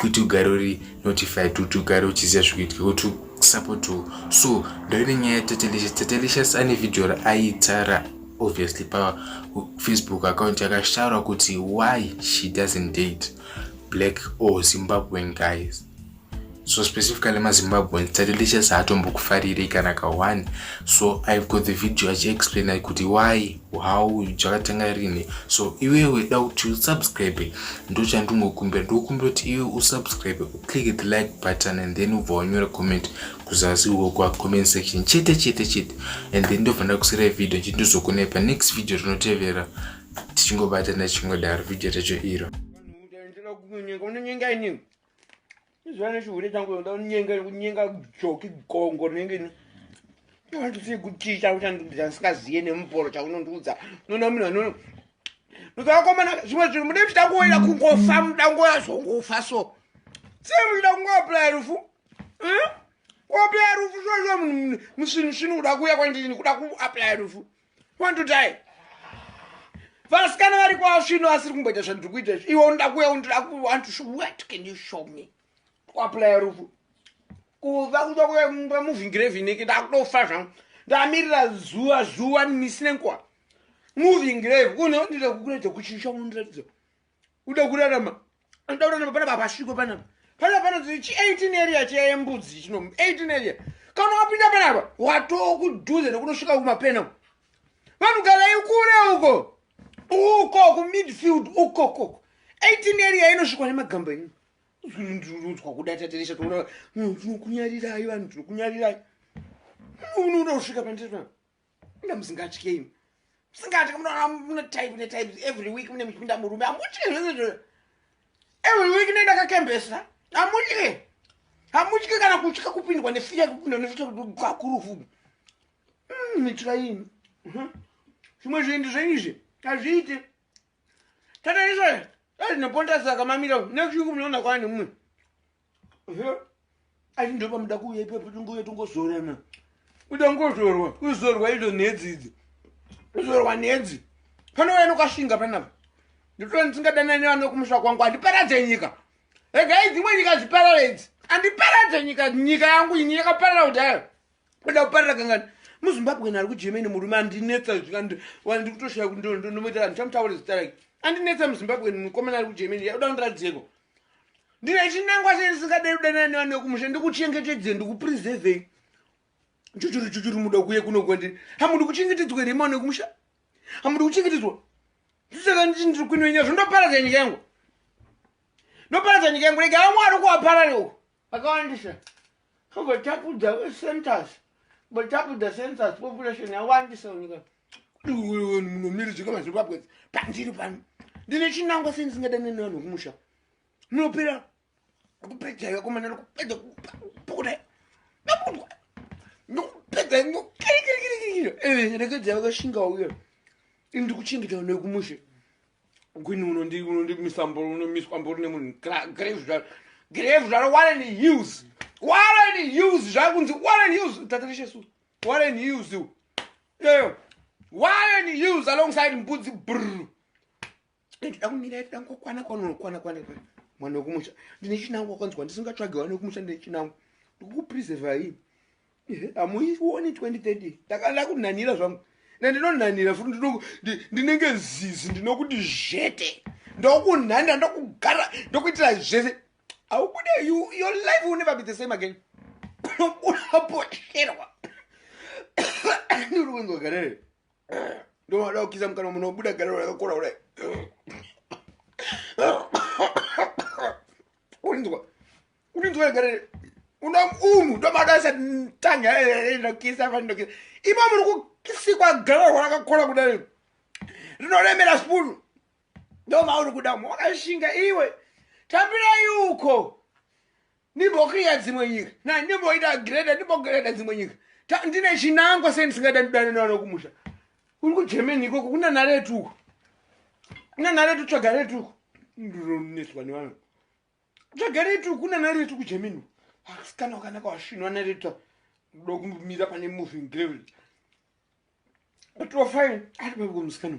kuti ugare uri notified kuti ugare uchiziva zvikuitike kuti usapotiwo so ndoine nyaya yatatelicious tatelicious ane vhidhiyo raaita ra obviously pafacebook account yakashtaura kuti why she doesn't date black or zimbabwean guys so specifically mazimbabweans tatelicious haatombokufarirei kana ka one so i've got the video achiexplaina kuti why how chakatenga rini so iwewe da kuti usubscribe ndochandingokumbira ndokumbira kuti iwe usubscribe uclick the like button and then ubva wanyora comment kuzasi uko kwacomment section chete chete chete and then ndobva ndakusirai video chiti ndizokonai panext video rinotevera tichingobatana chingodaro video racho iro izvana chihure changu ndoda kunyenga kunyenga joki gongo rinenge ni ndandisiye kuticha uchandiudza ndisingaziye nemuporo chaunondiudza unoona munhu anono ndozavakomana zvimwe zvinhu mude muchida kuoera kungofa muda ngoya zvongofa so sei muchida kungoaplaya rufu kuaplaya rufu zvozvo musvinu svinu kuda kuuya kwandini kuda kuaplaya rufu mm? wandodai vasikana vari kwasvino asiri kumboita zvandiri kuita izvi iwe unoda kuya undoda kuwantwhat can you show me kuaplaya rufu kuva kuda kuva muvhingirevineke ndakutofa zvangu ndamirira zuva zuva misi nenkuwa moving grave unondida kukuratidza kuchinja unondiratidza uda kurarama uda kurarama pana baba sviko panapa pana pana chi 18 area chiya yembudzi chino 18 area kana wapinda panapa watoo kudhuze nekunosvika kumapena vanhu garai kure uko uko kumidfield uko koko 18 area inosvikwa nemagamba ini ndinonzwa kuda tateresha toona tinokunyarirai vanhu tinokunyarirai unoda kusvika pandiri panapa Muna musingatye imi. Musingatye munoona mune type ne type every week mune muchipinda murume. Amutye zvese zvo. Every week nenda kakembesa. Amutye. Amutye kana kutya kupindwa ne fear kupindwa ne fear kwa kurufu. Mm, mitira imi. Mhm. Zvimwe zvinhu zvenyu izvi. Azviite. Tata izvo. Ezvinoponda saka mamira. Next week munoona kwani mumwe. asi ndopamuda kuuya ipapo tingouya tongozorana uda ngozorwa kuzorwa idzo nhedzi idzi kuzorwa nhedzi panouya nokashinga panapa nditoona ndisingadanane vano kumusha kwangu handiparadze nyika regai dzimwe nyika dziparare idzi handiparadze nyika nyika yangu ini yakaparara kudhara Kuda kuparira kangani? MuZimbabwe ari kuGermany murume andinetsa wandi kutoshaya kuti ndomuita vanhu chamutaura zita rake. Andinetsa muZimbabwe mukomana ari kuGermany yakuda kundiradzeko. Ndine chinangwa sei ndisingadei kudanana nevana vekumusha ndikuchengetedzei ndikupreservei. Chuchuru chuchuru muda kuye kuno kwandiri. Hamudi kuchengetedzwa here mwana wekumusha? Hamudi kuchengetedzwa? Ndisaka nditi ndiri kwinoinya zvondoparadza nyika yangu. Ndoparadza nyika yangu rega vamwe ari kuwaparare uko. akawandisa kogotapudza centers botapudza centers population yawandisa unika iwewe munomiri zvika mazimbabwe pandiri pano ndine chinangwa sendisingadaine nevanhu vekumusha munopera kupedza vakomana nokupedza kupukuda nakudwa nokupedza nokirikirikirikira eh, rekedzai vakashinga uyo ini ndikuchengeta vana vekumusha Gwini unondi unondi misambo unomiswa mbori nemunhu grave zvaro grave zvaro Warren Hughes Warren Hughes zvakunzi Warren Hughes tatarishe su Warren Hughes u yeah. Warren Hughes alongside mbudzi brr ndida kumira ndida kukwana kwana kwana kwana mwana wekumusha ndine chinangu wakanzwa ndisingatsvage wana wekumusha ndine chinangu ndikukupreserva hii hamuioni 2030 ndakada kunanira zvangu nandinonanira futi ndinenge zizi ndinokuti zvete ndokunhanira ndokugara ndokuitira zvese aubude your life will never be the same again unobudapoterwa ndiri kunzwa garere ndomada kukisa mukana munobuda garero rakakora kudai urinzwa unonzwaegare unomunhu ndomadaisa tanga ndokisa eh, eh, ndokisa imo muri kukisikwa garahwa rakakora kudai rinoremera spoon ndomauri kuda mu wakashinga iwe tambirai uko ndimbokriya dzimwe nyika na ndimboita greda ndimbogreda dzimwe nyika ndine chinangwa sei ndisingaita ndidane nevana kumusha uri kugermany ikoko kuna naretuko kuna naretu tsvaga retuko ndironeswa nevanhu zvagaretu kuna naretu kugemini asikana wakanaka wasvinwa nareta kuda kumira pane moving gravy atiwa fine ari paivo musikana